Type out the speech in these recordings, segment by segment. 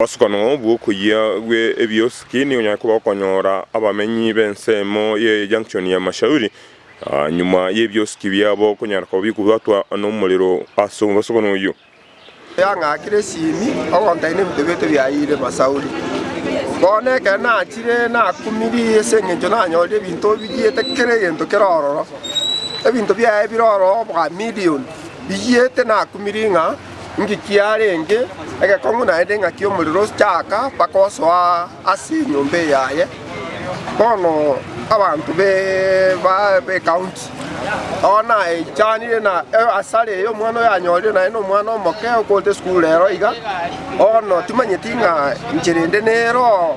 Obosokano bw'okoyia gwe ebiosuki nigo onyare koba okonyora abamenyi b'ensemo ye Junction ya Mashauri nyuma y'ebiosuki biabo konyara koba bikobwatwa nomorero ase obosokano oyio. Yang'akire esimi ogontaina ebinto biaito biayire Masauri. Bono ekero nachire nakumiri ase eng'encho nanyorire ebinto obiyiete kera egento kere ororo. Ebinto biaye bire ororo bwa million biyete nakumiri ng'a. Inki kiarenge egekong'u naende ng'aki omorero ochaaka mpaka osoa ase enyomba eyaye? Bono abanto b'ecounty oo naechanire na asare eye omwana oyo anyorire naende nomwana omoke okorete esukuru rero iga, bono timanyeti ng'a inche rende nere oo.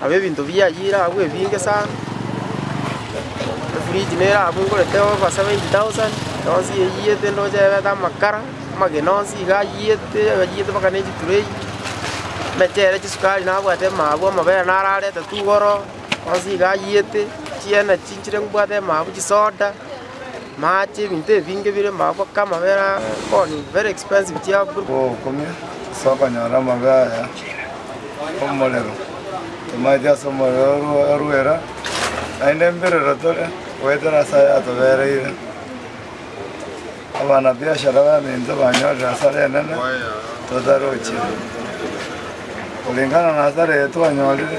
Nabo ebinto bi'ayio ere agwo ebinge sana, efridge nere agwo ngorete obasa bwa eight thousand, yonsi eyiyete ndoche yabete amakara, amagena onsi iga ayiyete, ayiyete mpaka ne chitureyi, emechere, chisukari nabwate mabu, amabere nararete togoro, onsi iga ayiyete, chienergy nchire mbwate mabu, chisoda. Mache ebinto ebinge bire maboko kaa amabere aa boni very expensive chiabure. Obokumia ase okonyora amabe aya omorero, tomaeti ase omorero orwo orwera, naende mbirero tore goetera ase aya atobereire. Abana biashara baminto banyorire hasara enene totarochia, koringana na hasara eye twanyorire.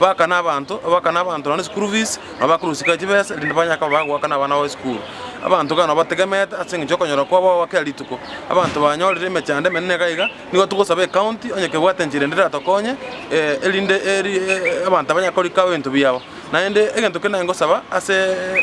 Bagakana abanto, bagakana abanto nonya neschool fees, nabo bakorosika chibesa erinde banye koba bagoakana abana babo esukuru. Abanto iga nabo bategemete ase eng'encho yokonyora kwabo gwa kera rituko. Abanto banyorire emechando emenene iga iga, nigo togosaba ecounty onye kebwate enchera ende eratokonye erinde eri abanto banye korika ebinto biabo. Naende egento kende nagosaba ase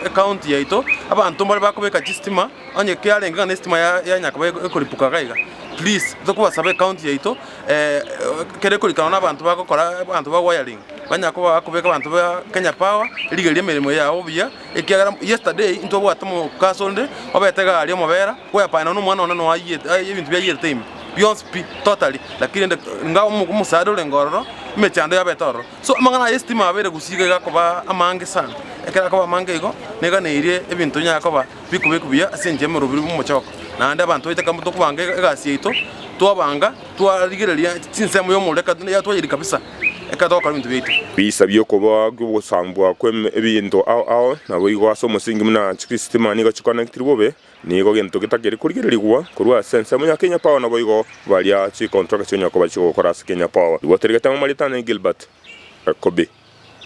ecounty yaito, abanto mbare bakobeka chistima, onye kiarenge ng'a nestima ya yanya koba ekoripuka iga iga, please tokobasaba ecounty yaito. Ekero ekorikanwa nabanto bagokora abanto ba wiring banyara koba bakobeka abanto ba Kenya Power rigereria emeremo yao buya ekiagera yesterday intobwate omokaso onde obete egari omobera bwepande nonye na omwana one noyo ayie aye ebinto biayierete ime bionsi pi totally lakini rende inga omo omosaara orenge ororo emeche yane yabete ororo. So amang'ana aya esitima abeire gusii iga igakoba amange sana ekero akoba amange igo niga neirie ebinto binyare koba. Bikoba ekibuya ase enchera y'omorubi bw'omochoko, naende abanto baite kambao tokobanga egasi yaito, twabanga, twarigereria chinsemo y'omorero ekatuna eria twayeriri kabisa, ekero togokora ebinto biaito. Biisa bi'okoboa kw'ogosambwa kw'ebinto ao ao, naboigo ase omosingi buna chisitima nigo chikonectiri bobe, nigo gento getakeri korigererigwa korwa ase ensemo ya kenyapao naboigo baria chicontraka chi'onyakoba chigokora ase kenyapao. Riboteria rigatang'wa Maritana Gilbert Ekobi.